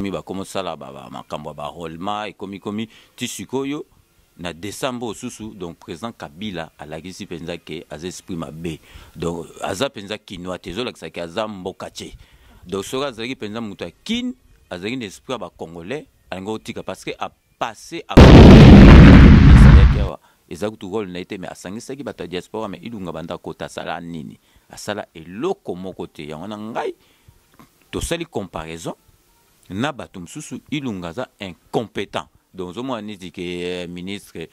ekomi bakomosala makambo ya barolema ekomi komi ti sikoyo na décembre oyo susu donc président kabila alakisi mpenza ke aza esprit mabe donc aza mpenza kinois te ezolakisa ke aza mboka te donc soki azalaki mpenza moto ya kin azalaki na esprit ya bacongolais alingi otika parce que apasse asalaki awa eza kutu role na ye te mais asangisaki bato ya diaspora mais ilunga banda kota asala nini asala eloko moko te yango na ngai tosali comparaison na bato mosusu ilunga aza incompetent donc ozomona neti ke eh, ministre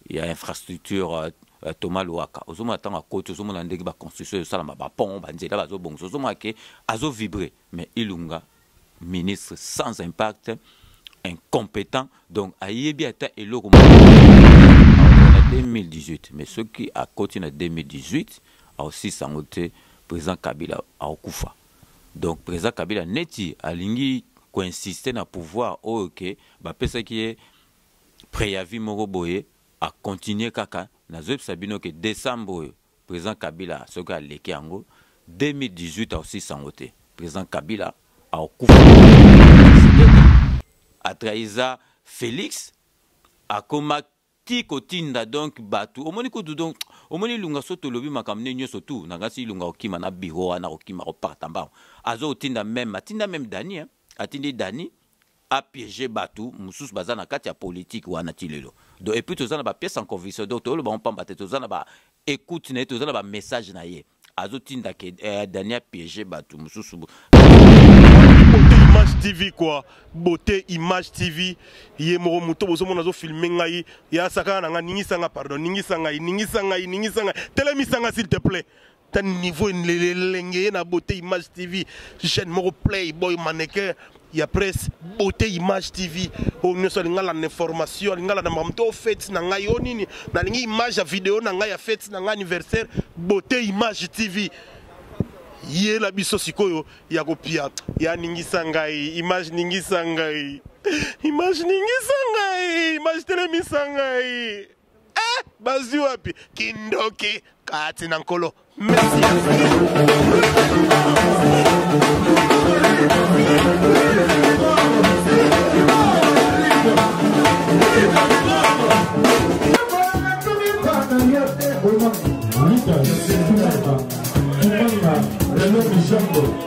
ya infrastructure euh, euh, thomas luwaka ozomona ntango akoti ozomona ndenge baconstruction ezosalama bapont banzela bazobongisa ozomona ke azovibre mais ilunga ministre sans impact incompétent donc ayebi ata eloko 2018 mais soki akoti na 2018 akosilisa yango te president kabila akokufa donc president kabila neti alingi koinsiste na pouvoir oyo ke bapesaki ye preavis moko boye akontinue kaka nazoyebisa bino ke decembre oyo president kabila soki aleki yango 2018 akosilisa yango te president kabila akokufa atrahiza felix akoma ti kotinda donc batu omoni kutu donc omoni ilunga so tolobi makambo nde nyonso tu na ngasi ilunga kokima na biro wana kokima koparta mbango azo kotinda meme atinda meme dani hein? atindi dani apiege batu mosusu baza na kati ya politike wana ti lelo donc epuis toza na bapiece en conviction donc toyoloba ngo mpamba te toza na ba écoute na ye toza na bamessage na ye azotinda ke eh, dani apiege bato mosusu beauté image tv quoi beauté image tv ye moko moto bozomona azofilme ngai ya sakana na ngai ningisa ngai pardon ningisa ngai ningisa ngai ningisa ngai telemisa ngai s'il te plaît ta niveau elenge ye na beauté image tv jeune moko play boy mannequin ya presse beauté image tv oyo nyonso alingi alanda na information alingi alanda makambo to fete na ngai o nini nalingi image ya video na ngai ya fete na ngai anniversaire beauté image tv yela biso sikoyo ya kopia ya ningisa ngai image ningisa ngai image ningisa ngai image telemisa ngai Eh, bazwi wapi kindoki kati na nkolo merci Thank you.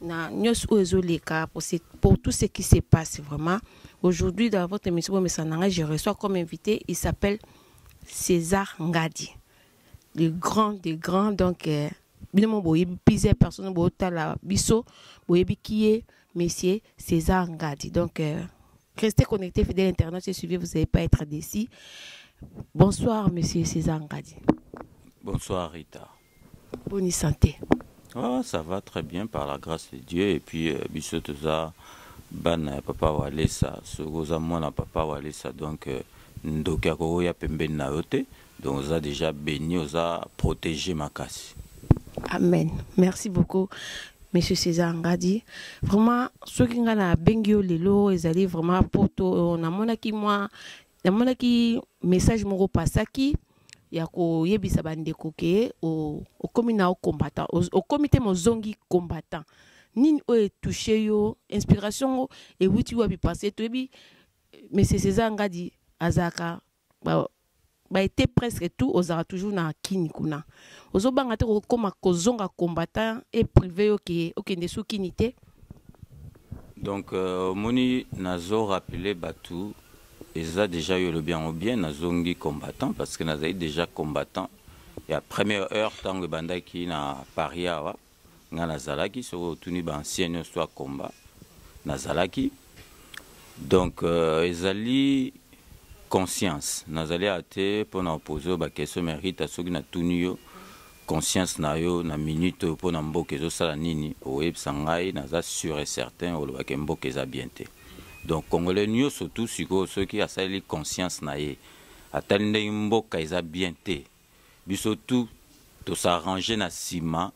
na nyonso oyo ezoleka pour, pour tout ce qui se passe vraiment aujourd'hui dans votre émission bomesana na ngai je reçois comme invité il s'appelle césar ngadi le grand des grands donc euh, bino mo boyebi plusieurs personnes botala biso boyebi qui est monsieur césar ngadi donc euh, restez connectés fidèle internet et suivez vous n'allez pas être déçu bonsoir monsieur césar ngadi bonsoir rita Boni santé. Oh, ça va très bien par la grâce de Dieu et puis euh, biso toza bana ya papa Walesa soki oza mwana papa Walesa donc euh, ndoki akoya pembeni na yo te donc oza déjà béni oza protégé makasi. Amen. Merci beaucoup. Monsieur César Ngadi, vraiment, ce qui nga na bengi yo lelo, ezali vraiment poto, on a monaki moi namonaki message moko pasaki ya koyebisa bandeko ke okomi na o combattant okomi te mozongi combattant nini oyo etouche yo inspiration ngo ewuti wapi parce toyebi monsieur césar ngadi azalaka baete presque tout ozalaka toujours na kini kuna ozobanga te kokoma kozonga combattant e prive yo ke okende su kini te donc euh, omoni euh, nazo rappele bato Eza dejà yo olobi yango bien nazongi combattant parce que nazali dejà combattant ya première heure ntango ebandaki na paris awa ngai nazalaki soki otuni baancien nyonso ya combat nazalaki donc euh, ezali conscience nazali awa te mpo na opose oyo bakestion merita soki natuni yo conscience na yo na minute oyo mpo na mboka ezosala nini okoyebisa ngai naza sur et certain olobake mboka eza bien te donc congolais nyonso tu sikoyo soki asaleli conscience na ye atali ndenge mboka eza bien te biso tu tosarrange na nsima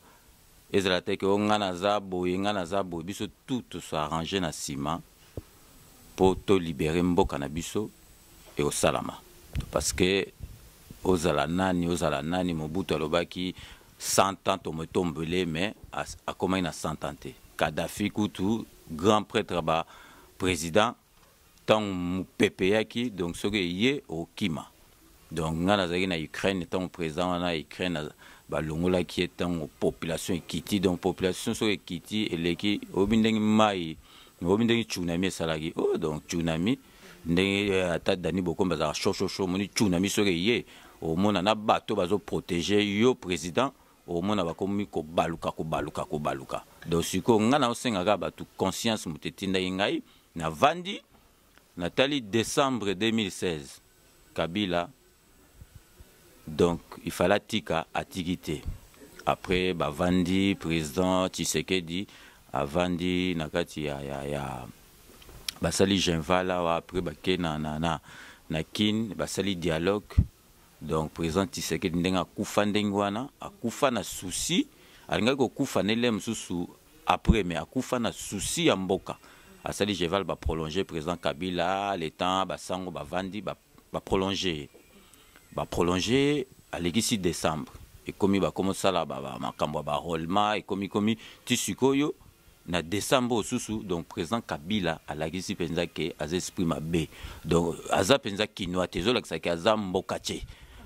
ezala te ke o oh, ngai naza boye ngai naza boye biso tu tosarrange na nsima mpo tolibere mboka na biso ekosalama parce que ozala nani ozala nani mobutu alobaki 100 ans tomotombele mais akomaki na 100 ans te kadafi kutu grand prêtre ba président ntango mopepe eyaki donc soki eye okima donc ngai nazalaki na ukraine ntango président wana ya ukraine balongolaki ye ntango population ekiti donc population soki ekiti eleki oyebi ndenge mai oyebi ndenge tsunami esalaki oh, donc tsunami oh, ndenge eh, ata dani bokombe azalaka shoshosho omoni cu na miso oke ye omona na bato bazoprotege yo président omona bakomi kobaluka kobaluka kobaluka donc sikoyo ngai naosengaka bato conscience moto etindaki ngai navandi natali décembre 2016 kabila donc il fallait atika atiki te après bavandi président tshisekedi avandi na kati ya, ya, ya basali genval awa après bake na, na, na, na kin basali dialogue donc président tshisekedi ndenge akufa ndenge wana akufa na souci alingaki kokufa na ele mosusu après mais akufa na souci ya mboka asali genval baprolonge président kabila le temps basango bavandi ba ba prolonger ye ba prolonger ye alekisi decembre ekomi bakomi osala ba- ba- makambo ya barolema ekomi komi ti sikoyo na decembre oyo susu donc président kabila alakisi mpenza ke aza esprit mabe donc aza mpenza kinois te ezolakisa ke aza mbokace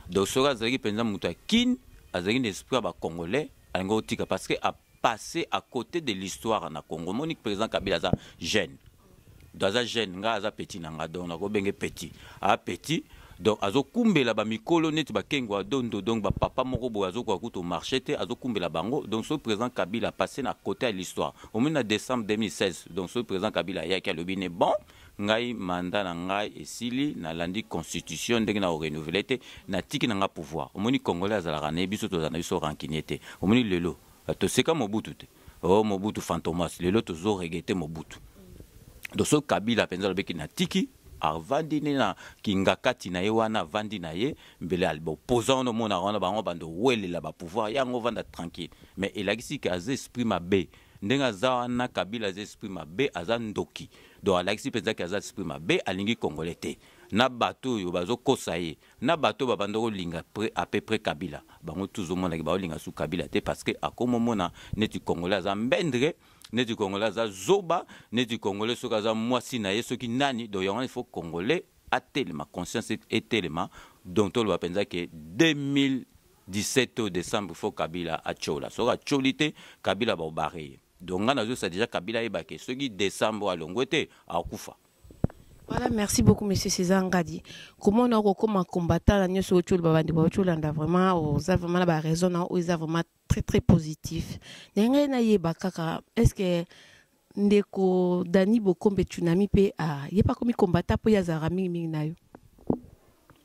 donc soki azalaki mpenza moto ya kin azalaki na esprit ya bacongolais alingi otika parce que apasse à côté de l'histoire na congo omoni président kabila aza jeune do aza jeune ngai aza petit na ngai donc nakobenge petit a petit donc azokumbela bamikolo neti bakengo ya dondo donc bapapa moko boye azokoka kutu marche te azokumbela bango donc soki président kabila passe na côté ya l'histoire omoni na décembre 2016 donc soki président kabila ayaki alobi ne bon ngai manda na ngai esili nalandi constitution ndenge na orenouvele te natiki na ngai pouvoir omoni congolais azalaka na ye biso tozala na biso rancunier te omoni lelo toseka mobutu te oh mobutu fantomas lelo tozo regete mobutu do so kabila mpenza alobeki natiki avandi nde na kingakati na ye wana avandi na ye mbele albaopposa wana omonaka wana bango bando welela bapouvoir yango ovanda tranquille mais elakisi ke aza esprit mabe ndenge aza wana kabila aza esprit mabe aza ndoki donc alakisi mpenza ke aza esprit mabe alingi congolais te na bato oyo bazokosa ye na bato oyo babanda kolinga à peu près Kabila bango tous omonaki baolinga su Kabila te parce que akomi omona neti congolais aza mbendre neti congolais aza zoba neti congolais soki aza mwasi na ye soki nani donc yango il faut congolais atelema conscience etelema donc toloba mpenza ke 2000 17 au décembre faut kabila atiola soki atioli te kabila baobare ye donc ngai nazwisa deja kabila ayeba ke soki décembre alongwe te akufa Voilà, merci beaucoup, monsieur César Ngadi. Comment on a recommandé un combattant, la nioso, tu le babandi, tu l'anda vraiment, oh, ça vraiment la raison, non, ou ça vraiment très, très positif. N'engue na ye bakaka, est-ce que ndeko Dani Bokombe Tsunami pe a, ye pas comme combattant, po ya zara mingi mingi na yo.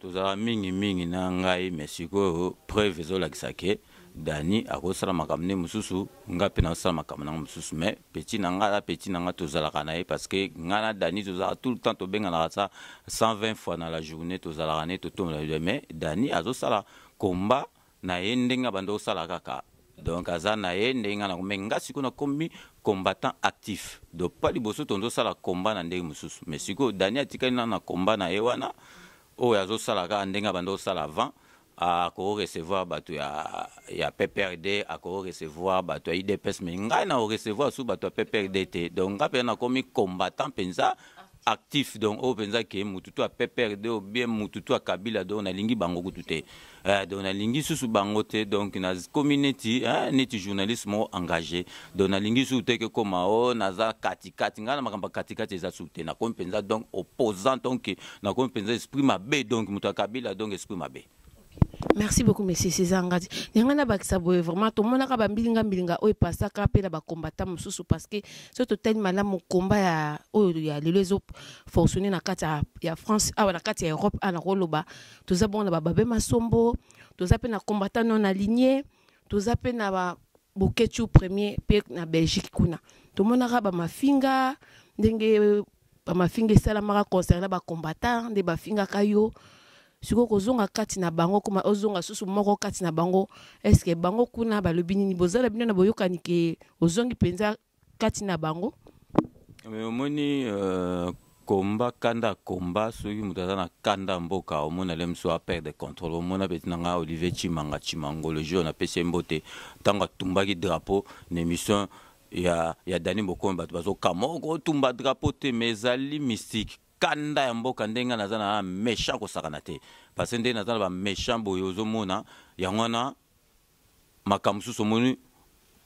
tozalaka mingi mingi na ngai mais sikoyo preuve ezolakisa ke dani akosala makambo nde mosusu ngai mpe nakosala makambo nango mosusu mais petit na ngai na petit na ngai tozalaka na ye parce que ngai na dani tozalaka tout le temps tobenganaka sa 120 fois na la journée tozalaka na ye totombola mais dani azosala combat na ye ndenge abandi kosala kaka donc aza na ye ndenge nga nako me nga sikoyo nakomi combattant actif donc pa liboso tozosala combat na ndenge mosusu mais sikoyo dani atikali na na combat na ye wana oyo azosala kaka ndenge abandi kosala avant akoki recevoir bato ya, ya pprd akoki recevoir bato ya idps mais ngai na recevoir su bato ya pprd te donc ngai mpenza nakomi combattant mpenza actif donc oyo mpenza ke mutu to ya pprd oyo bien mutu to ya kabila donc nalingi bango kutu te eh, donc nalingi susu bango te donc nakomi neti eh, neti journaliste moko engagé donc nalingi susu te kekoma o oh, naza katikati ngai na makambo ya katikati eza susu te nakomi mpenza donc opposant donc nakomi mpenza esprit mabe donc moto ya kabila donc esprit mabe merci beaucoup monsieur césar ngadi yanga nabakisa boye vraiment tomonaka bambilinga mbilinga oyo epasaka mpe na bakombata mosusu parce que soki totali malamu komba ya oyo ya lelo ezo fonctionne na kati ya france awa na kati ya europe awa nakoloba toza bongo na bababe masombo toza mpe na kombata non aligne toza mpe na ba boketshu premier mpe na belgique kuna tomonaka bamafinga ndenge bamafinga esalamaka concernant bacombattant nde bafingaka yo sikoyo kozonga kati na bango koma ozonga susu moko kati na bango eske bango kuna balobi nini bozala bino na boyokani ke ozongi mpenza kati na bango mais omoni euh, komba kanda akomba soki moto aza na kanda mboka omona le mosusu aperde contrôle omona peti na ngai olivier chimanga chimangolo jour napesi ye mbote ntango atumbaki drapeau na émission ya ya Dani Bokomi bato bazokamwa okotumba drapeau te mais ezali mystique kanda ya mboka ndenge ngai naza na méchant kosakana te parce que ndenge naza na baméchant boye ozomona yango wana makambo mosusu omoni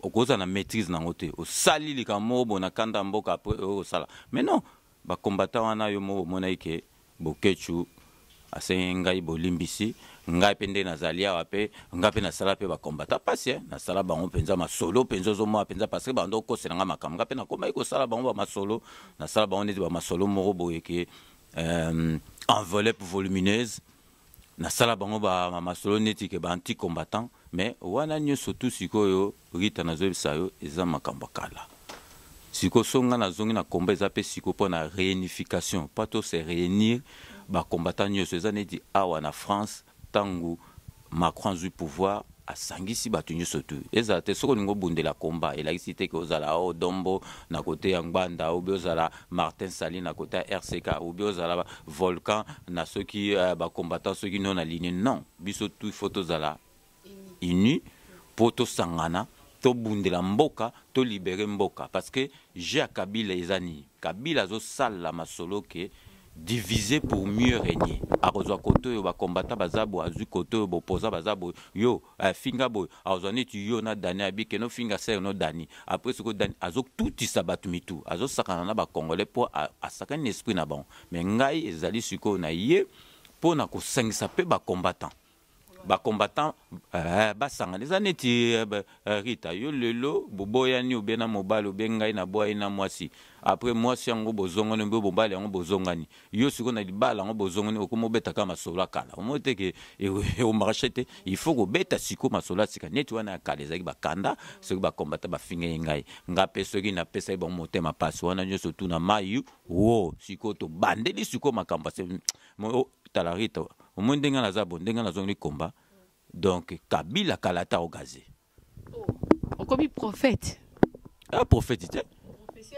okozala na maîtrise nango te osali likambo moko boye na kanda ya mboka après oyo osala mais non bakombata wana yo moko omonaki ke Boketshu asengi ngai bolimbisi, ngai mpe nde nazali awa mpe ngai mpe nasala mpe bakombata mpasi eh, nasala bango mpenza masolo mpenza ozomona mpenza parce que bando okosela ngai makambo ngai mpe nakomaki kosala bango bamasolo nasala bango neti bamasolo moko boye ke euh, enveloppe volumineuse nasala bango ba ma masolo neti ke ba anti combattant mais wana nyonso tu sikoyo rita nazoyebisa yo eza makambo ya kala sikoyo so ngai nazongi na combat eza mpe sikoyo mpo na réunification pas to se réunir bacombattant nyonso eza neti awa na france ntango macron azwi pouvoir asangisi bato nyonso tu ezala te soki olingi obundela komba elakisi te ke ozala o oh, dombo na kote ya ngbanda obi ozala martin sali na kote ya rck obi ozala volcan na soki uh, eh, bacombattant soki no na linie non biso tu faut tozala uni mpo tosangana tobundela mboka tolibere mboka parce que jeu ya kabila eza nini kabila azosalela masolo ke Diviser pour mieux regner akozwa kote oyo ba combattants baza boye azwi kote oyo ba opposants baza boye yo eh, finga boye akozwa neti yo na Dani abi keno finga sœur no Dani après siko Dani azo tutisa bato mitu azo sakana na ba congolais po asakani na esprit na bango mais ngai ezali sikoyo na ye po na kosangisa pe ba combattants ba combattant eh, basangana eza neti eh, eh, rita yo lelo boboyani obe na mobali obe ngai na boyani na mwasi apres mwasi yango bozongani obe mobali yango bozongani yo sikoyo na libala yango bozongani okoma obetaka masolo ya kala omoi te ke omarche e, te il faut kobeta sikoyo masolo ya sika neti wana ya kala ezalaki bakanda soki bakombata bafinga ye ngai ngai mpe soki napesaki bango motema mpasi wana nyonso tuna mayi wo sikoyo tobandeli sikoyo makambo Mo oh, tala Rita, omoni ndenge nga naza bo, ndenge nga nazongeli komba. Donc Kabila kala ata ogaze. Okomi prophète. Ah prophète te.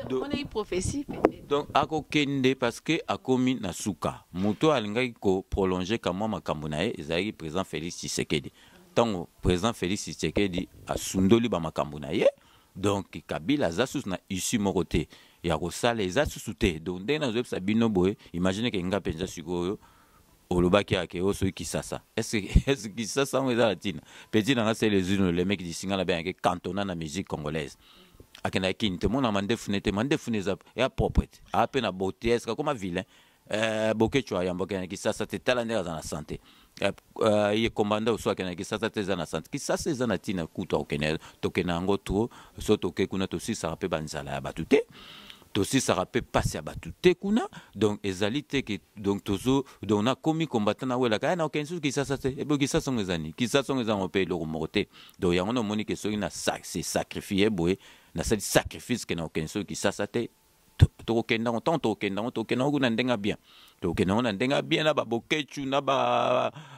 Donc- Omonaki prophetie peut-être. donc akokende parce que akomi na suka moto oyo alingaki koprolonge kamwa makambo na ye ezalaki président félix tshisekedi ntango président félix tshisekedi asundoli bamakambo na ye Donc Kabila aza susu na issue moko te ya kosala eza susu te. Donc ndenge nazoyebisa bino boye, imagine ke nga mpenza sikoyo olobaki ya ke osoki kisasa est-ce est-ce kisasa yango eza na ntina petit na nga c'est les unes le mec disinga na bien ke cantona na musique congolaise akenda kin te mona mandefu ne te mandefu ne za ya propre te a pe na beauté est-ce que akoma vilain Eh, boketsho ayamba okende na kisasa te tala ndenge aza na sante eh, eh, ye kombanda oso akende na kisasa te eza na sante kisasa eza na ntina kutu akokende tokende yango to so toke kuna tosisaka mpe banzala ya bato te tosisaka mpe mpasi ya bato te kuna donc ezali te ke donc tozo donc nakomi kombata nawelaka ya nakokende susu kisasa te ebo kisasa yango ezani kisasa yango ezango mpe eloko moko te donc yango namonike soki na se sacrifie boye nasali sacrifice ke nakokende soki kisasa te tokokende yango ntango tokokende yango tokokende yango na ndenge ya bien tokokende yango na ndenge ya bien na babokechu na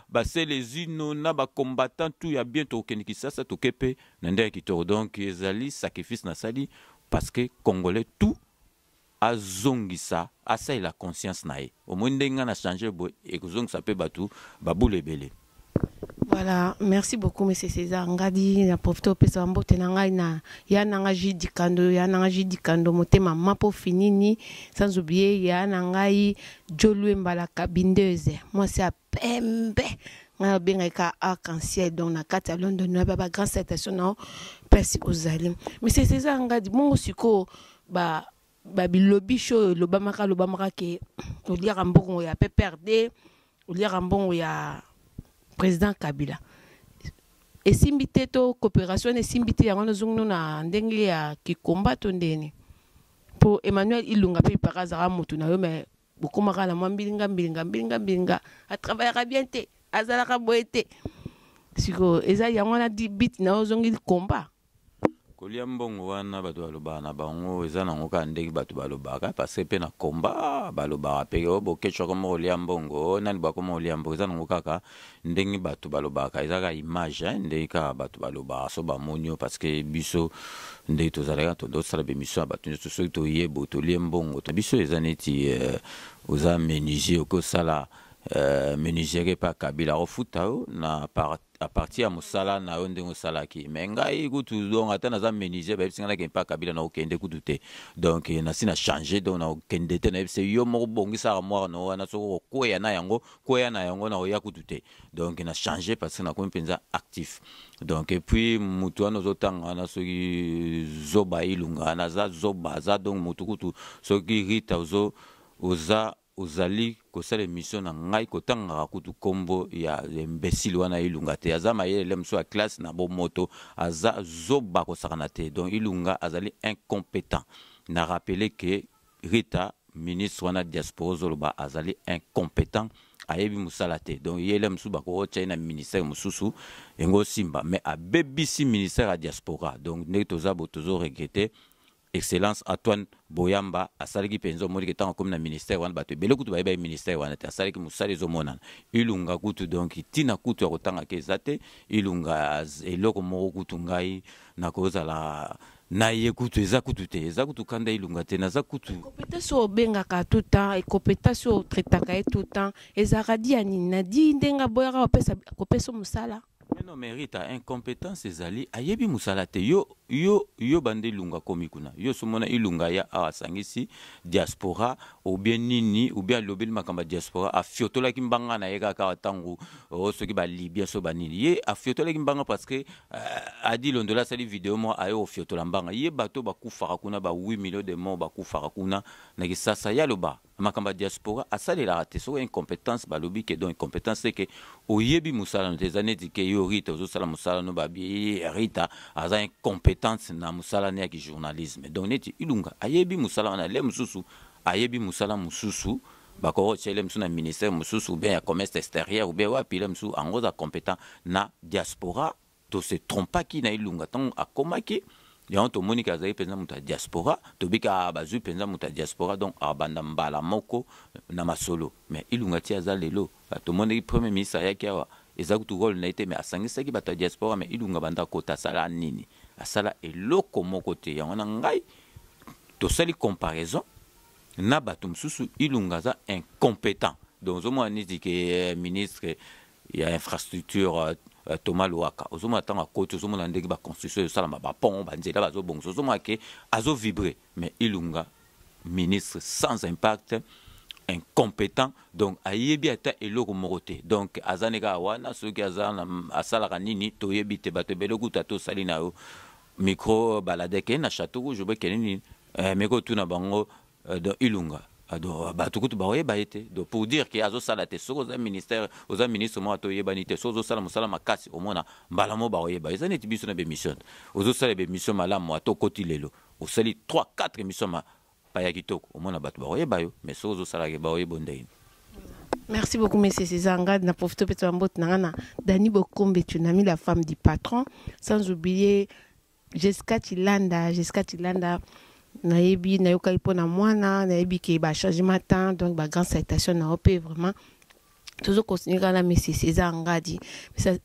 baselezino na bacombattant tout ya bien tokokende kisasa toke mpe na ndenge ya kitoko donc ezali sacrifice nasali parce que congolais tout azongisa asalela conscience na ye omoi ndenge ngai na change boye ekozongisa mpe bato babula ebele Voilà, merci beaucoup monsieur César Ngadi na profite opesa mbote na ngai na ya na ngai Jules Dikando ya na ngai Jules Dikando motema mapo finini sans oublier ya na ngai Jolue Mbala Kabindeuse moi c'est à pembe ngai obengaki ka arc-en-ciel donc na kati ya London na ba grand citation na place ozali monsieur César Ngadi bongo sikoyo ba babilobisha oyo elobamaka alobamaka ke oliaka mbongo ya pprd oliaka mbongo ya président kabila esimbi te to coopération wana esimbi te yango wana ozongino na ndenge ya kikomba to ndeni mpo emmanuel ilunga mpe ipaka azalaka motu na yo me bokoma kaka na mwa mbilinga mbilinga mbilinga mbilinga atravaillaka bien te azalaka boye te sikoyo eza yango wana di bit na yo ozongi likomba kolia mbongo wana bato balobaka na bango eza nango kaka ndenge bato balobaka parce mpe na komba balobaka mpe o oh, bokecwaka moko olia mbongo oh, nani bakoma olia mbongo eza nango kaka ndenge bato balobaka eza kaka image hein, ndenge kaka bato balobaka so bamoni yo parce que biso ndenge tozalaki kaka tondo tosala bemission ya bato nyonso soki toye bo tolie mbongo to biso eza neti euh, oza menuisier okoki osala euh, menuiserie mpe akabila akofuta yo na par à partir ya mosala na yo ndenge osalaki me ngai kutu donc ata naza menuisier bayebisi ngai nakende mpe akabila nakokende kutu te donc nasi na change donc nakokende te nayebisi yo moko bongisaka mwana na wana soki okokweya na yango koya na yango na oya kutu te donc na change parce que nakomi mpenza actif donc epuis motu wana ozotanga wana soki zoba ilunga wana aza zoba aza donc motu kutu soki rita ozo oza ozali kosala emission na ngai kotangaka kutu nkombo ya imbesile wana ilunga te aza mayele mosusu ya classe na bomoto aza zoba kosakana te donc ilunga azali incompetent na rappele ke Rita ministre wana diaspora ozoloba azali incompetent ayebi musala te donc yele musu bako tchai na ministère mususu engo simba mais abebisi ministère ya diaspora donc ndenge toza bo tozo regretter excellence Antoine Boyamba asalaki penzo moni ke tango komi na ministère wana bato ebele kutu bayeba ministère wana te asalaki musala ezo monana ilunga kutu donc tina kutu ya kotanga ke ezate ilunga eloko moko kutu ngai nakozala na ye kutu eza kutu te eza kutu kanda ilunga te naza kutu compétence oyo obengaka tout temps e compétence oyo otraitaka ye tout temps ezalaka di ya nini na di ndenge aboyaka kopesa mosala mais non mais rita incompétence ezali ayebi mosala te yo yo yo banda ilunga akomi kuna yo somona ilunga ya awa asangisi diaspora obie nini obie alobeli makambo ya diaspora afiotolaki mbanga na ye kaka awa ntango oh, soki balibia so banini ye afiotolaki mbanga parce que Euh, adi londola asali video moko aye ofiotola mbanga ye bato oyo bakufaka kuna ba 8 million de mort bakufaka kuna na kisasa ye aloba makambo ya diaspora asalelaka te soki incompétence balobi ke donc incompétence te ke oyebi mosala no te eza neti ke yo rita ozosala mosala no babi rita aza incompétence na mosala ne ya kijournalisme donc neti ilunga ayebi mosala wana le mosusu ayebi mosala mosusu bakoki kotia ye mosusu na ministère mosusu ou bien ya commerce extérieur ou bien wapi ye mosusu ango aza competent na diaspora to se trompaki na ilunga ntango akomaki yango tomoni ke azali mpenza moto ya diaspora tobiki a ah, bazwi mpenza moto ya diaspora donc abanda mbala moko na masolo mais ilunga ti aza lelo ah, tomonaki premier ministre ayaki awa eza kutu role na ye te mais asangisaki bato ya diaspora mais ilunga banda kota asala nini asala eloko moko te yango na ngai tosali comparaison na bato mosusu ilunga aza incompetent donc ozomona neti ke eh, ministre ya infrastructure euh, euh, thomas loaka ozomona ntango akoti ozomona ndenge baconstruction ezosalama bapont banzela bazobongisa ozomona ke azovibre mais ilunga ministre sans impact incompétent donc ayebi ata eloko moko te donc aza ne kaka wana soki aza asalaka nini toyebi te bato ebele kuta tosali na yo micro baladeke na chateau rouge obekele nini eh, meko otuna bango eh, don ilunga ah, do bato kutu bakoyeba ye te do pour dire ke azosala te soki oza ministère oza ministre moko ata oyebani te soki ozosala mosala makasi omona mbala moko bakoyeba eza neti biso na bemission ozosala bemission malamu ata okoti lelo osali 3 4 émission ma paya kitoko omona bato bakoyeba yo mais soki ozosalaka bakoyeba yo ndenge Merci beaucoup, Monsieur César Angad. Na profite peut-être Dani Bokombe, tu n'as mis la femme du patron, sans oublier Jessica Chilanda, Jessica Chilanda, nayebi nayokaki mpo na mwana nayebi ke bachangement temps donc bagrande citation na yo mpe vraiment tozo continue kaka na monsieur césar ngadi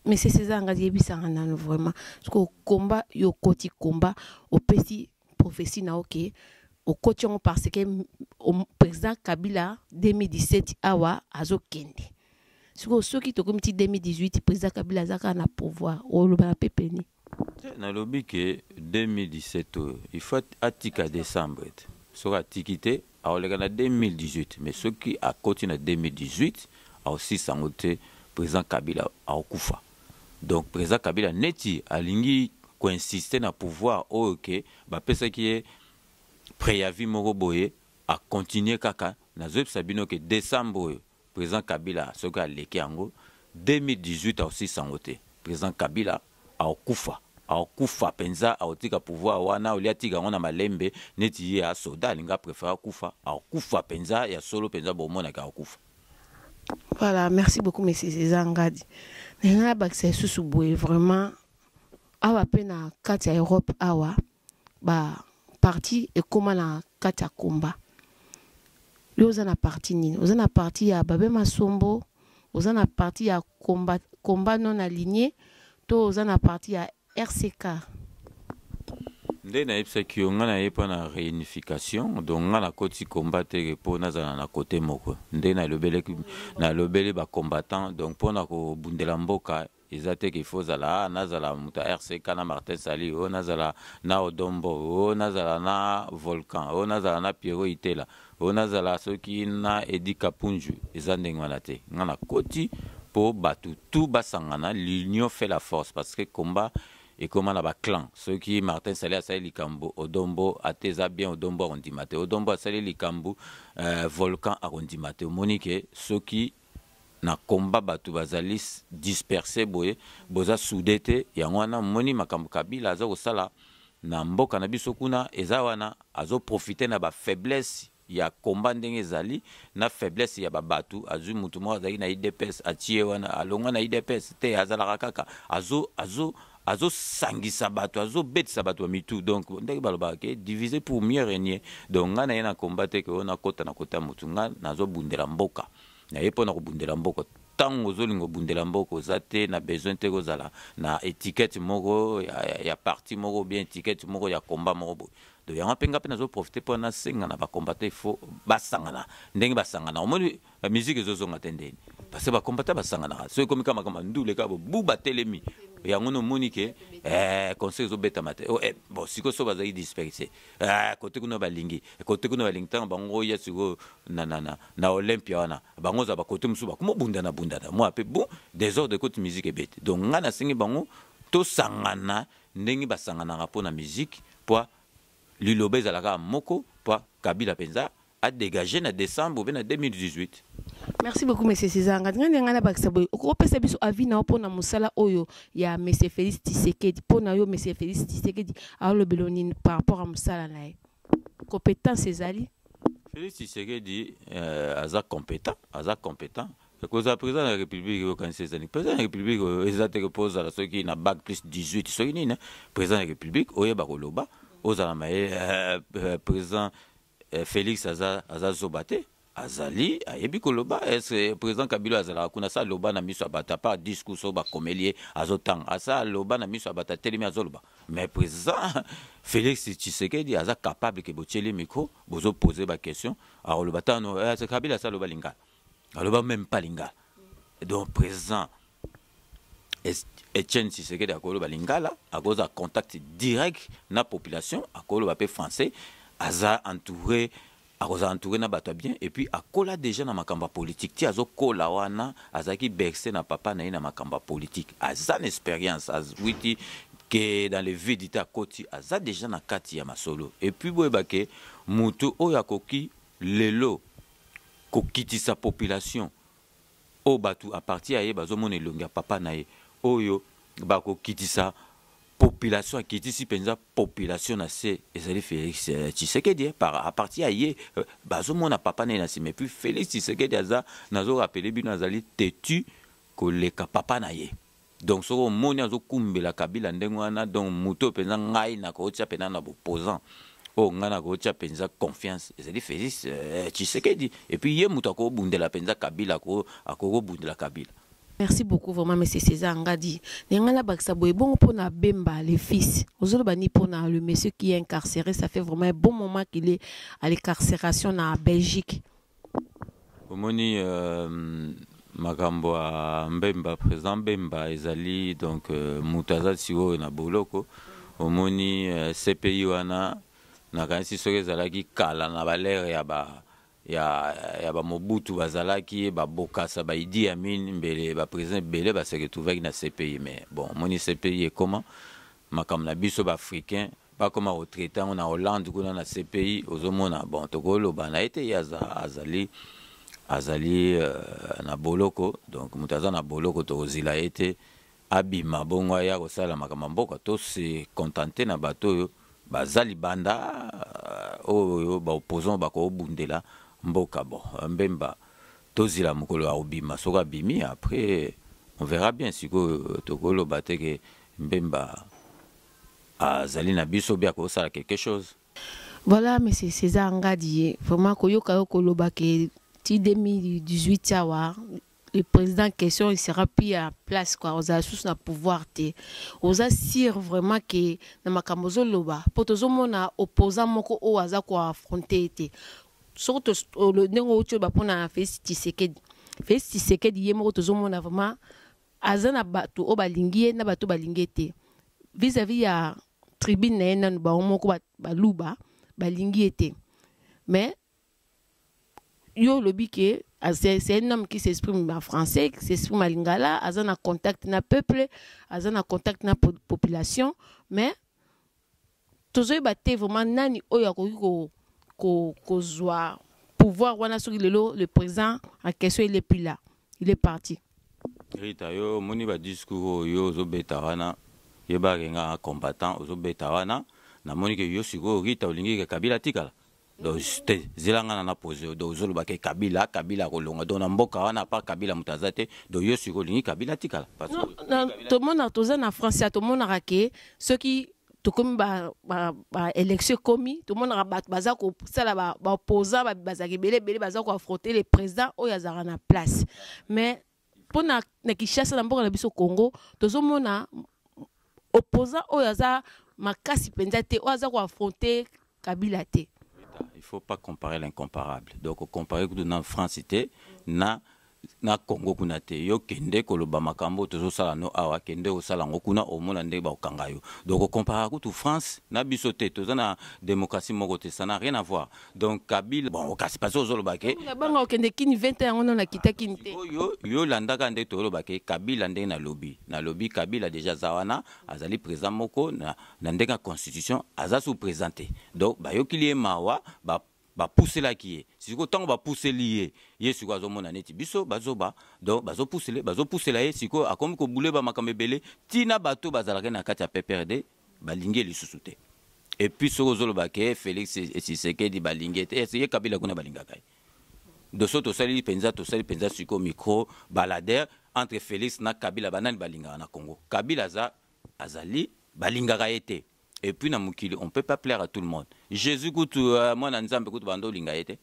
monsieur césar ngadi yebisaka nano vraiment soko komba yo okoti komba opesi prophétie na yo ke okoti yango parce que président kabila 2017 awa azokende sikoyo soki tokomi ti 2018 président kabila aza kaka na pouvoir olobaka mpe peni Te, nalobi ke 2017 oyo il faut atika decembre te soki atiki te akoleka na 2018 mais soki akoti na 2018 akosilisa yango te president kabila akokufa donc president kabila neti alingi koinsiste na pouvoir oyo ke bapesaki ye preavis moko boye akontinue kaka nazoyebisa bino ke decembre oyo President Kabila soki aleki yango 2018 akosilisa yango te President Kabila akokufa akokufa penza akotika pouvoir wana au lieu atika yango na malembe neti ye a soda alingi a prefere akufa akokufa penza ya solo penza bomonaki akokufa Voilà, merci beaucoup, monsieur César Ngadi. Nana bakisa lisusu boye vraiment awa pe na kati ya Europe awa ba parti ekoma na kati ya komba yo oza na parti nini oza na parti ya babe masombo oza na parti ya komba, komba non aligne to oza na parti ya rck nde nayebisaki yo ngai naye mpo na réunification donc ngai nakoti combat te mpo nazala na kote moko nde nalobelaki nalobeli bacombattant donc mpo na kobundela mboka eza te qu'il faut zala ah, nazala moto ya rck na martin sali o oh, nazala na odombo o oh, nazala na volcan o oh, nazala na piero itela o nazala soki na edi kapunju eza ndenge wana te ngai nakoti mpo bato tout basangana l'union fait la force parce que combat ekoma na baclan soki martin sali asali likambo odombo ata eza bien odombo akondima te odombo asali likambo euh, volcan akondima te omoni ke soki na combat batu bazali disperse boye boza soude te yango wana moni makambo kabila aza kosala na mboka na biso kuna eza wana azo profite na ba faiblesse ya combat ndenge ezali na faiblesse ya babatu azwi mutu moko azalaki na idps atie wana alongwa na idps te azalaka kaka azo azo azo sangisa bato azo betisa bato ba mitu donc ndenge balobaka ke divise pour mieux régner donc ngai naye na combat te ke oyo nakota na kota motu ngai nazobundela mboka naye mpo na kobundela mboka ntango ozolinga obundela mboka oza te na besoin te kozala na etiquette moko ya, ya, ya parti moko bien etiquette moko ya combat moko boye donc yango mpe ngai mpe nazoprofite mpo nasenga na bacombatant ifo basangana ndenge basangana omoni ba musique ezo zonga te ndeni parce que ba combattant ba sangana ka soki komi kama kama ndule ka bu ba telemi ya ngono moni ke eh conseil zo beta mate oh, eh bon siko so ba zaki disperser eh kote kuna ba lingi kote kuna ba lingi tanga bango ya siko na na na na Olympia wana bango za ba kote musu ba kuma bunda na bunda na moi pe bon désordre kote musique ebete donc ngana singi bango to sangana ndenge ba sangana ka pona musique po liloba ezalaka moko po kabila penza a degager na decembre ou bien na 2018. Merci beaucoup monsieur César Ngadi ngani ngana bakisa boye okopesa biso avis na pona musala oyo ya monsieur Félix Tshisekedi pona yo monsieur Félix Tshisekedi alobelo nini par rapport à musala na ye compétence ezali Félix Tshisekedi euh, aza compétent aza compétent kozala président de la république okanisi ezali président de la république oyo eza te mpo ozala soki na bac plus 18 soki nini président de la république oyeba koloba ozala maye euh, euh, président Eh, Felix aza, aza zoba te azali ayebi koloba ese président kabila azalaka kuna sa loba na miso ya bato apart discours oyo bakomeli ye azotanga asa loba na miso ya bato atelemi azoloba mais président félix tshisekedi aza capable ke botyeli micro bozopose baquestion akoloba tano eh, kabila asa aloba lingala aloba meme pas lingala donc président Etienne Tshisekedi akoloba lingala akozala contact direct na population akoloba pe français aza entouré akozala entouré na bato ya bien et puis akola déjà na makambo ya politique ti azokola wana azalaki berse na papa na ye na makambo ya politique aza na expérience awiti ke dans le vide te akoti aza déjà na kati ya masolo et puis boyeba ke moto oyo akoki lelo kokitisa population oyo batu à partir ya ye bazomona elongi ya papa na ye oyo bakokitisa population akitisi mpenza population na se ezali félix euh, tshisekedi eh, par à partir ya ye euh, bazomona papa na ye na nsima epuis félix tshisekedi aza nazorapele bino azali tetu koleka papa na ye Donc soki omoni azo kumbela Kabila ndenge wana donc moto oyo penza ngai nakotia pena na bopposant oyo oh, ngai nakotia penza confiance ezali Felix euh, Tshisekedi et puis ye moto akobundela penza Kabila akokobundela Kabila Merci beaucoup vraiment monsieur César Ngadi. Nengala bakisa boye bongo pona Bemba le fils. Ozolo bani pona le monsieur qui est incarcéré, ça fait vraiment un bon moment qu'il est à l'incarcération na Belgique. Omoni euh, makambo ya Mbemba, président Mbemba ezali donc euh, moto aza sikoyo na boloko. Omoni euh, CPI wana nakanisi soki ezalaki kala na balere ya ba ya, ya bamobutu bazalaki babokasa baidi ya mini mbele baprésident ebele baseretrouvaki na cpi mais bon omoni cpi ekoma makambo na biso baafricain bakoma ko traite yango na Hollande kuna na CPI ozomona bon tokoloba na ye te ye aza, azali azali uh, na boloko donc moto aza na boloko tokozila ye te abima bongo aya kosala makambo ya mboka to se contente na bato oyo baza libanda euh, oyo baopposant bakobundela mboka bon mbemba tozila mokolo ya kobima soki abimi après on verra bien sikoyo tokoloba te ke mbemba azali na biso bia kosala quelque chose Voilà, monsieur César Ngadi, vraiment, Koyoka Yoko Lobake, ti 2018 Yawa, le président en question, il sera plus à place, quoi. Oza sous na pouvoir, te. Oza sûr vraiment que na makamozo loba, potozo mona opposant moko o aza ko affronter, te. Surtout, le nengo ocho ba pona Félix Tshisekedi. Félix Tshisekedi, ye moko tozo mona vraiment, aza na bato oyo balingi ye na bato oyo balingi ye te vis-à-vis ya tribune na ye nanu bango moko baluba balingi ye te mais yo olobi ke ah, c'est un homme qui s'exprime en français qui s'exprime en lingala aza na contact na peuple aza na contact na population mais tozoyeba te vraiment nani oyo akoki ko, ko, kozwa pouvoir wana soki lelo le président en question il est plus là il est parti rita yo omoni badiscours oyo ozobeta wana yebake nga combattant ozobeta wana namoni ke yo sikoyo rita olingi ke kabila atikala donc te zela nga na na pose yo donc ozoloba ke kabila kabila akolonga donc na mboka wana apart kabila moto aza te donc yo sikoyo olingi kabila atikala tomona toza na france ya tomonaka ke soki tokomi baélection ekomi tomonaka bato baza kosala baopposant bazalaka ebele ebele baza koaffronte le président oyo azalaka na place mais mpo na, na kinshasa na mboka na biso congo tozomona opposant oyo aza makasi mpenza te oyo aza koaffronte kabila te il faut pas comparer l'incomparable donc comparer kutu na france te na na congo kuna te yo kende koloba makambo tozosala no awa kende osala yango kuna omona ndenge bakokanga yo donc okomparaka kutu france na biso te toza na démocratie moko te ça na rien avoir donc kabila bon okasi pasi ozoloba ke nabanga okende kini 20 ans yango nano nakita kini te oyo yo olandaka nde toloba ke kabila ndenge nalobi nalobi kabila deja aza wana azali président moko na, na ndenge ya constitution aza sous président te donc bayokili ye mawa ba bapuselaki ye sikoyo ntango bapuseli ye ye sikoyo azomona neti biso bazoba donc bazopusele bazopusela ye sikoyo akomi kobule bamakambo ebele ntina bato bazalaki na kati ya pprd balingi ye lisusu te epuis soki ozoloba ke félix tshisekedi balingi ye te ye kabila kuna balingaka ye doso tosali mpenza tosali mpenza siko micro balader entre félix na kabila banani balingaka na congo kabila aza azali balingaka ye te epuis na mokili on peut pas plaire à tout le monde jésus kutu uh, mwana nzambe kutu banda olinga ye te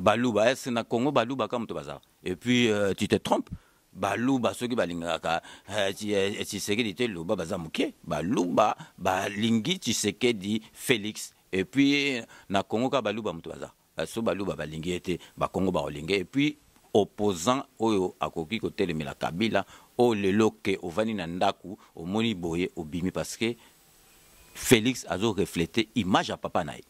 baluba ese na congo baluba ka moto bazala epuis uh, tu te trompe baluba soki balingaka eh, eh, eh, tshisekedi te loba baza moke baluba balingi tshisekedi félix epuis na congo kaka baluba moto baza so baluba balingi ye te bakongo bakolinga epuis opposant oyo akoki kotelemela kabila oyo lelo ke ovandi na ndako omoni boye obimi parce que félix azoreflete image ya papa na ye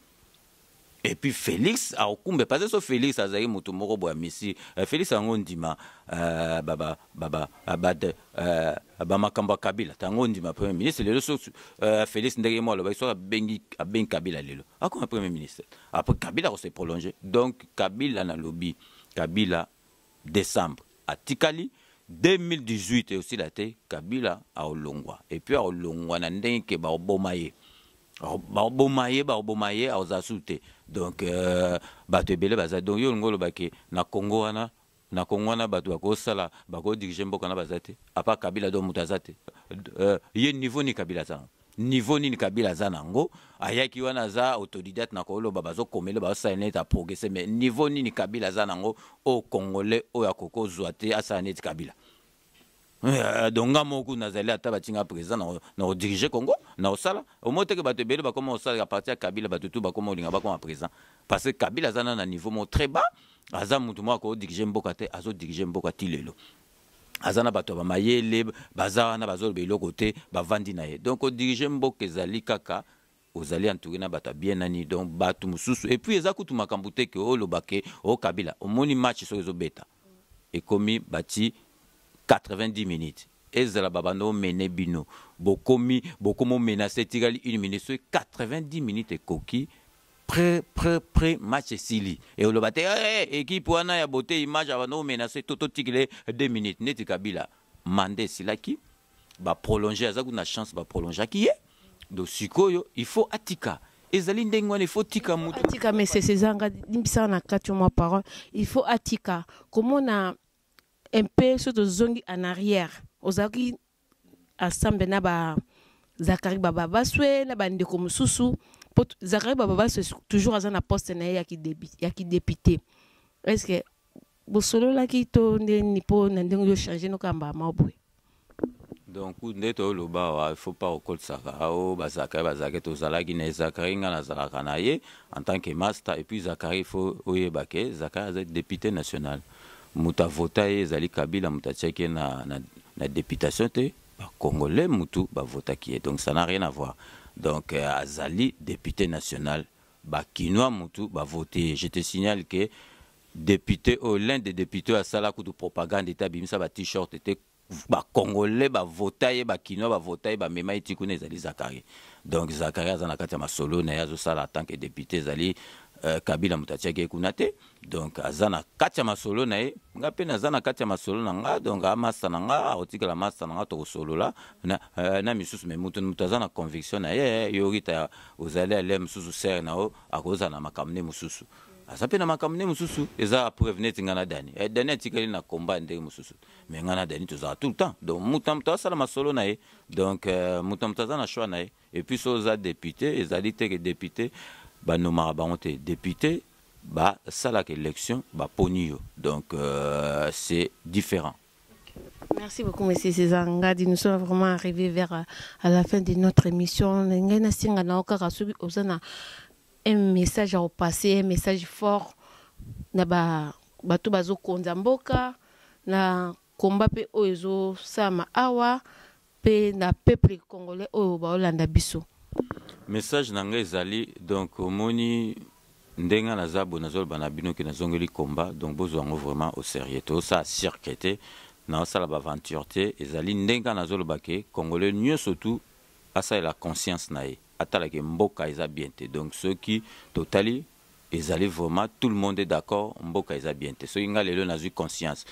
Et puis Felix aokumbe parce que Felix azali moto moko boya misi euh, Felix yango ndima euh, ba ba ba ba euh, ba de euh, ba makambo Kabila tango ndima premier ministre lelo so euh, Felix ndenge mo aloba so abengi abengi Kabila lelo akoma premier ministre après Kabila ko se prolonger donc Kabila na lobi Kabila decembre atikali 2018 eosila te kabila aolongwa epuis aolongwa na ndenge ke baoboma ye baoboma ye baoboma ye aozala susu te donc euh, bato ebele baza donc yo olingi oloba ke na congo wana na congo wana bato bakosala bakodirige mboka na baza te apart kabila donc moto aza te euh, ye niveau ni kabila aza Niveau nini Kabila aza na yango? Ayaki wana aza autodidacte na koloba bazo komele bazo sala neti a progresser mais niveau nini Kabila aza na yango au congolais oyo akoki kozwa te asala neti Kabila. Euh, donc nga moko kuna nazali ata batinga président na na kodirige congo na kosala omoi teke bato ebele bakoma kosala ya parti ya kabila bato tu bakoma kolinga bakoma président parce que kabila aza na na niveau moko très bas aza motu moko akodirige mboka te azodirige mboka ti lelo aza na bato ya bamayele baza wana bazoloba eloko te bavandi na ye donc kodirige mboka ezali kaka ozali entouré na bato ya bien nani donc bato mosusu epuis eza kutu makambo te ke oloba ke okabila oh, omoni match soki ezobeta ekomi bati 90 minutes ezala babanda omene bino bokomi bokomi omenase etikali une minute soki 90 minutes ekoki pre pre pre match esili e oloba te hey, eh, eh, ekipe wana ya bote image abanda omenase to totikile 2 minutes neti kabila manda esilaki baprolonge aza kuna chance baprolongeaki ye do sikoyo il faut atika ezali ndenge wana ifo tika moto atika mesese ezanga limbisaka na kati mwa parole il faut atika komona mpe so tozongi en arrière ozalaki ensemble na ba Zachary Baba Baswe na bandeko mosusu po Zachary Baba Baswe toujours aza na poste na ye ya kidepite est ce que bosololaki to ndeni mpo na ndenge yo change nokamba ya mao boye donc nde toyoloba awa il faut pas okotisaka ao bazakari bazalaki tozalaki na zakari ngai nazalaka na ye en tant que master et puis zakari faut oyeba ke zakari aza député national mutu a vota ye ezali kabila mutu atiaki ye na, na, na deputation te ba congolais mutu ba votaki ye donc ça n'a rien à voir donc euh, azali depute national ba kinois mutu ba vote je te signale que député oyo l'un des députés asala kutu propagande ete abimisa ba t-shirt ete ba congolais ba vota ye ba kinois ba vota ye ba mema ye ti kuna ezali zakari donc zakari aza na kati ya masolo na ye azosala en tant que député ezali euh, kabila moto atiaki ye kuna te donc aza na kati ya masolo na ye nga mpe naza na kati ya masolo na nga donc amasta na nga akotikala masta na nga tokosolola na, euh, na misusu me moto moto aza na conviction na ye yo rita ozali ale mosusu sere na yo akozala na makambo nde mosusu aza mpe na makambo nde mosusu eza preuve neti nga na dani eh, dani atikali na combat ndenge mosusu mais ngai na dani tozala tout le temps donc moto na moto asala masolo na ye donc euh, moto na moto aza na choix na ye epuis so oza depute ezali te ke depute banomaka bango te depute basalaka élection baponi yo donc euh, c'est différent Merci beaucoup, Monsieur César Ngadi. Nous sommes vraiment arrivés vers euh, à la fin de notre émission. Ngena singa na okaka soki ozana un message à repasser, un message fort na ba bato bazokonza mboka na komba mpe oyo ezosama awa mpe na peuple congolais oyo baolanda biso message na ngai ezali donc omoni ndenge naza boye nazoloba na bino ke nazongeli komba donc bozwa yango vraiment au sérieux tosala cirque te naosala baaventure te ezali ndenge nazoloba ke congolais nyonso tu asalela conscience na ye atala ke mboka eza bien te donc soki totali ezali vraiment tout le monde est d'accord mboka eza bien te soki nga lelo nazwi conscience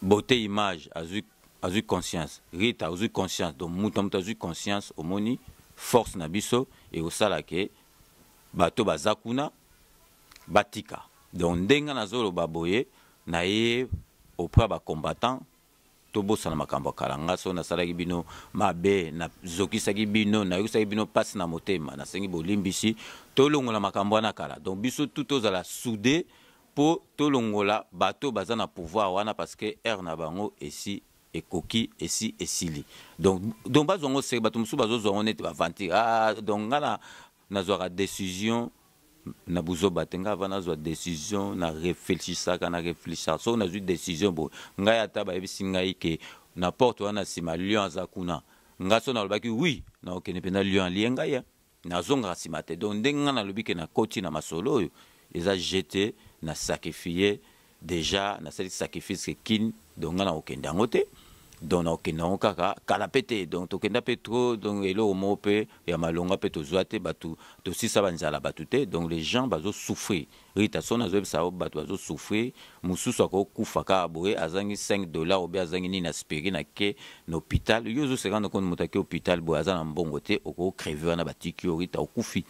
beauté image azwi azwi conscience rita ozwi conscience donc moto na moto azwi conscience omoni force na biso ekosala ke bato baza kuna batika donc ndenge nazoloba boye naye auprès ya bacombattant Tobosana makambo ya kala. Nga soki nasalaki bino mabe, na zokisaki bino, na yokisaki bino pasi na motema, na sengi bolimbisi. Tolongola makambo wana ya kala. Donc biso tout tozala soude po tolongola bato oyo baza na pouvoir wana parce que heure na bango esi ekoki, esi esili. Donc, donc bazwa ngo serieux. Bato mosusu bazozwa ngo neti ba aventure. Ah donc nga na Nazwaka decision na buzoba te ngai avant nazwa decision na reflechisaka na reflechisaka soki nazwi decision boye ngai ata bayebisi ngai ke na porte wana nsima lion aza kuna ngai so nalobaki wi nakokende mpenza lion alie ngai hein. nazongaka nsima te donc ndenge ngai nalobi ke nakoti na masolo oyo eza jete na sacrifie dejà nasali sacrifice ke kin donc nga nakokende yango te donc nakokende yango kaka kala mpe te donc tokenda mpe trop donc eloko moko mpe ya malonga mpe tozwa te bato tosisa banzala bato te donc les gens bazosouffrir rita soni azoyebisa yango bato bazosouffrir mosusu akokufa kaka boye azangi 5 dollar obe azangi nini aspiri na ke na hôpital yo ozoseka nokoni moto ake hôpital boye aza na mbongo te okocreve wana batiki yo rita okufi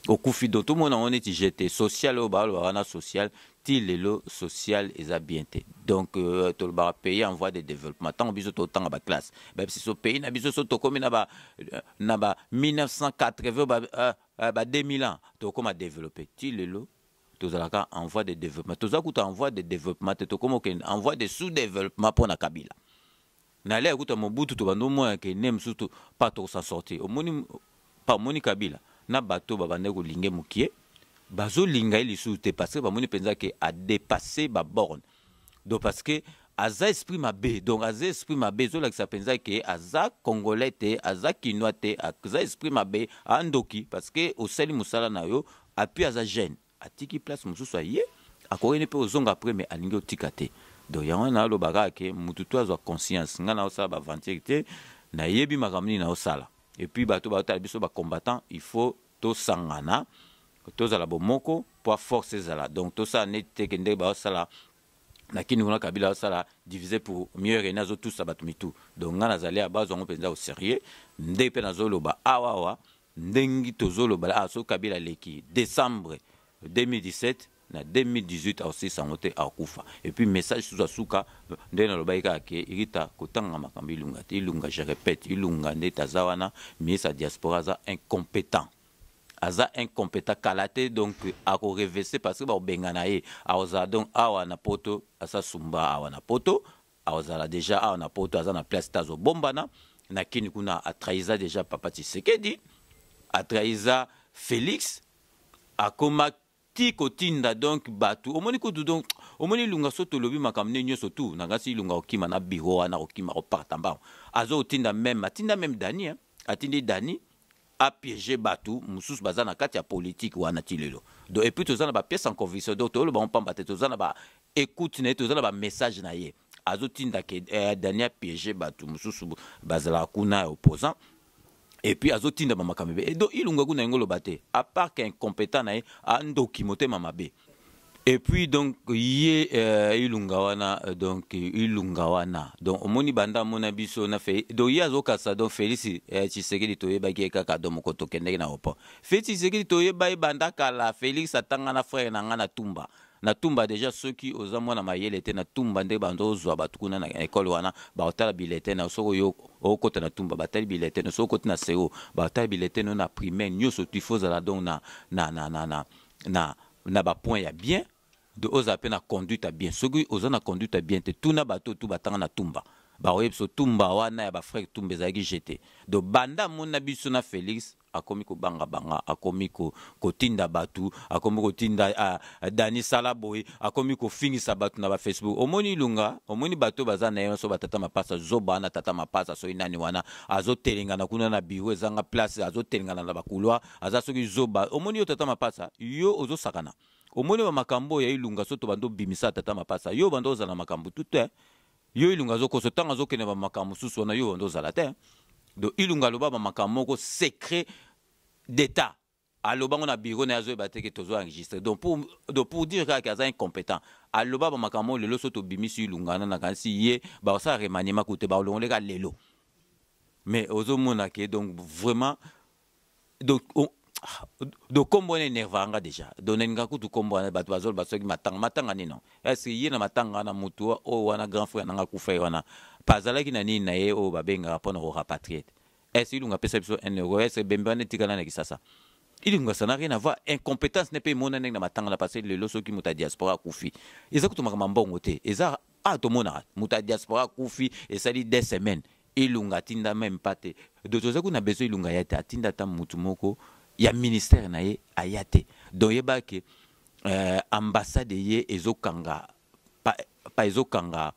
Okufi donc tomona ngo neti je te social oyo balobaka na social ti lelo social eza bien te donc euh, tolobaka pays en voie de développement ntango biso totanga baklasse bayebisi so pays na biso so tokomi na ba euh, na ba 1980 ba, euh, euh, ba 2000 ans tokoma développe ti lelo tozalaka en voie de développement toza kuta en voie de développement te tokoma okende en voie de sous développement mpo na kabila Na l'ère kutu ya Mobutu tobandi omona que ne mosusu to pas toko s'en sortir. Omoni pa omoni Kabila na bato ba bandaki ko linge mukie bazo linga ye lisusu te parce que ba moni penza que a depasser ba bornes. Donc parce que aza esprit mabe donc aza esprit mabe ezo lakisa penza que aza congolais te aza kinois te aza esprit mabe a ndoki parce que osali musala na yo appuie aza jeune. Atiki place mususu aye akoki ne pe ozonga après mais alingi otika te. Donc yango wana naloba kaka ke mutu to azwa conscience nga naosala ba aventure te nayebi makambo nini naosala et puis bato baotala biso ba combattant il faut tosangana tozala bomoko mpo force ezala donc tosala neti te ke ndenge baosala na kini kuna kabila asala divise pour mieux rene azotusa bato mitu donc ngai nazali ya bazwa yango mpenza au sérieux nde mpe nazoloba awawa Ndengi tozo loba la awa soki kabila aleki decembre 2017 na 2018 akosilisa yango te akokufa et puis message susu ya suka nde nalobaki kaka ke rita kotangaka makambo ilunga te ilunga je repète ilunga ndeti aza wana ministre ya diaspora aza incompetent aza incompetent kala te donc akorevese parce que bakobengana ye akozala donc awa na poto asasumba awa na poto Azala dejà awa na poto aza na place te azo bombana na kini kuna a trahisa dejà papa Tshisekedi a trahisa Felix akoma ti kotinda donc batu omoni kutu donc omoni lunga so tolobi makambo nde nyonso tu na ngasi lunga okima na biro wana okima koparta mbango azo otinda meme atinda meme dani hein? atindi dani a piege batu mususu baza na kati ya politique wana ti lelo donc epuis toza na bapièce en conviction donc toyolo bango mpamba te toza na ba écoute na ye toza na bamessage na ye azotinda ke eh, daniel piege bato mosusu bazalaka kuna ya opposant epuis azotinda bamakambo ebe edo ilunga kuna yango oloba te apart ke incompétent na ye andoki motema mabe Et puis donc ye euh, ilunga wana euh, donc ilunga wana donc omoni banda amona biso na fe donc ye azokasa donc Felix eh, Tshisekedi toyebaki ye kaka donc moko tokendeki na opo Felix Tshisekedi toyeba ye banda kala Felix atanga na frère na nga na Tumba na Tumba deja soki oza mwana mayele te na Tumba nde bando ozwa bato kuna na ekole wana bakotala bilete na soki oyo okota na Tumba batali bilete na soki okoti na seo batali bilete no na primaire nyonso tifozala donc na na na na na, na na ba points ya bien de ozala pe na conduite ya bien soki oza na conduite ya bien te tuna bato oyo tu batanga na tumba bakoyebisa tumba wana ya ba frère tumba ezalaki je te do banda amoni na biso na Felix akomi kobanga banga akomi ko, kotinda bato akomi kotinda a, ah, a, dani sala boye akomi kofingisa bato na bafacebook omoni ilunga omoni bato oyo baza na ye nyonso batata mapasa zoba wana tata mapasa soki nani wana azotelengana kuna na biro ezanga place azotelengana na bakulwa aza soki zoba omoni yo tata mapasa yo ozo sakana omoni ba makambo ya ilunga soto bando bimisa tata mapasa yo bando ozala makambo tout te yo ilunga azo koso tanga azo kende ba makambo susu wana yo bando ozala te donc ilunga loba ba makambo moko secret d'état aloba ngo na bureau na azoyeba te ke tozo enregistre donc pour, donc pour dire kaka aza incompétent aloba ba makambo lelo so tobimisi ilungana na kanisi ye bakosala remaniema kute bakolongoleka lelo mais ozomona ke donc vraiment donc oh, do kombo wana enerva nga deja do nalinga kutu kombo wana bato bazoloba soki matanga matanga nini no ese ye na matanga wana motu oyo wana grand frère nanga kufa ye wana bazalaki na nini na ye oyo babengaka mpo na korapatrie te ese ilunga apesa biso un euro ese bembe wana etikala na kisasa ilunga ça n'a rien à voir incompétence ne mpe emona ndenge na matanga na pase lelo soki moto ya diaspora akufi eza kutu makambo mbongo te eza a ah, tomonaka moto ya diaspora akufi esali deux semaines Ilunga atinda meme pas te donc toza kuna besoin Ilunga ya te atinda ata mutu moko ya ministère na ye aya te donc yeba ke euh, ambassade ye ezokanga pa, pa ezokanga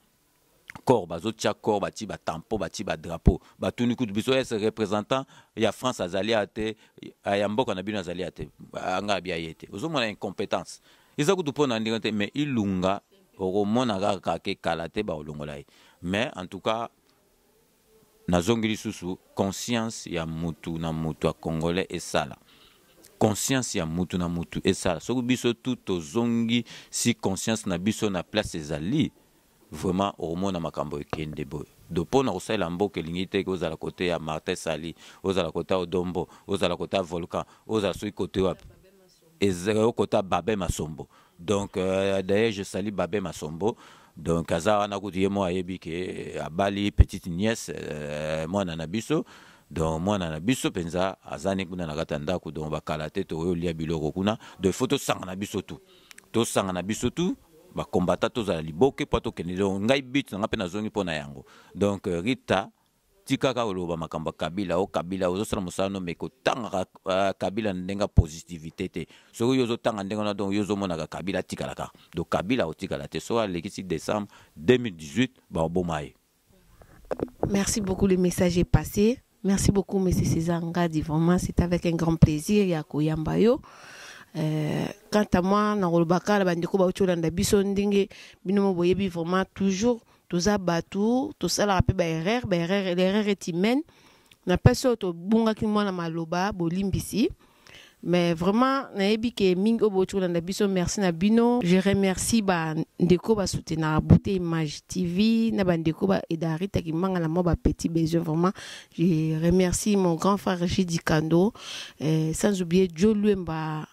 corps bazotia corps batie batampo batie badrapo batuni kutu biso ese représentant ya france azali ya te ya mboka na bino azali ya te anga abia ye te ozomona incompétence eza kutu mpo na ndenge te mais ilunga okomona kaka ke kala te bakolongola ye mais en tout cas nazongi lisusu conscience ya mutu na mutu ya congolais esala conscience ya mutu na mutu esala soki biso tu tozongi si conscience na biso na place ezali vraiment okomona makambo ekende boye do mpo na kosalela mboka elingi te ke ozala kote ya martin sali ozala kote ya odombo ozala kote ya volcan ozala soki kote wapi ezeo kota babe masombo donc euh, d'ailleurs je salue babe masombo donc aza wana kutu ye moko ayebi ke euh, abali petite nièce euh, mwana na biso donc mwana na biso mpenza azani kuna na kati ya ndako donc bakala te tokoki olia biloko kuna donc ifo tosanga na biso tu tosanga na biso tu bakombata tozala liboke mpo tokende donc ngai but na ngai mpe nazongi mpo na yango donc euh, rita Tika kaka koloba makambo ya Kabila o Kabila ozosala mosala no meko tangaka uh, Kabila na ndenge ya positivité te soki yo ozotanga ndenge wana donc yo ozomonaka Kabila atikala kaka donc Kabila akotikala te soki alekisi décembre 2018 bakoboma ye Merci beaucoup, le message est passé. Merci beaucoup, Monsieur César Ngadi. Vraiment, c'est avec un grand plaisir, Yako Yambayo. Euh, quant à moi, na rolbaka la bande ko ba ocho landa biso ndenge bino mo boyebi vraiment toujours toza bato tosalaka mpe baerreur baerreur l'erreur est humaine na mpasi oyo tobungaki mwana maloba bolimbisi mais vraiment nayebi ke mingi oyo boti kolanda biso merci na bino je remercie bandeko basoutenaka beauté image tv na bandeko ba edarita kimanga na mwa bapetit besoin vraiment je remercie mon grand frère jidi kando eh, sans oublier joe luemba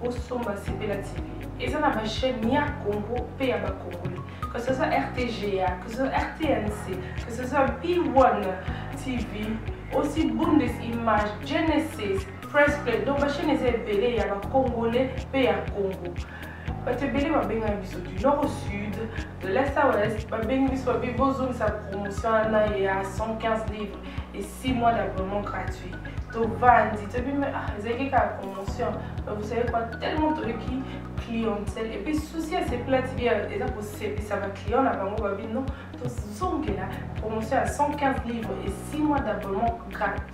bosomba sepela tv eza na bachaine ya congo mpe ya bacongolais que ce soit rtga que ce soit rtnc que ce soit p1 tv aussi bundes image genesis press play donc bachaine eza ebele ya bacongolais mpe ya congo bato ebele babengana biso du nord au sud De la Saurest, babengi biso babi bozongisa promotion wana ya 115 livres et 6 mois d'abonnement gratuit tovandi toyebi me ah, ezalaki kaka promotion vous savez quoi tellement toyoki clientèle et puis souci ya sepela tv eza kosepisa baclient na bango babi non tozongela promotion ya 115 livres et 6 mois d'abonnement gratuit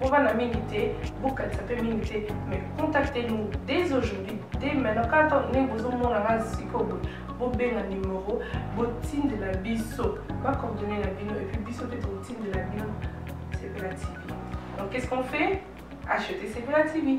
Bovanda mingi te, bokanisa mpe mingi te, mais contactez nous dès aujourd'hui, dès maintenant, kaka ndenge bozomona nga sikoyo boye, bobenga numero, botindela biso bacoordonne na bino, epuis biso mpe totindela bino Sepela TV. Donc qu'est-ce qu'on fait Acheter Sepela TV.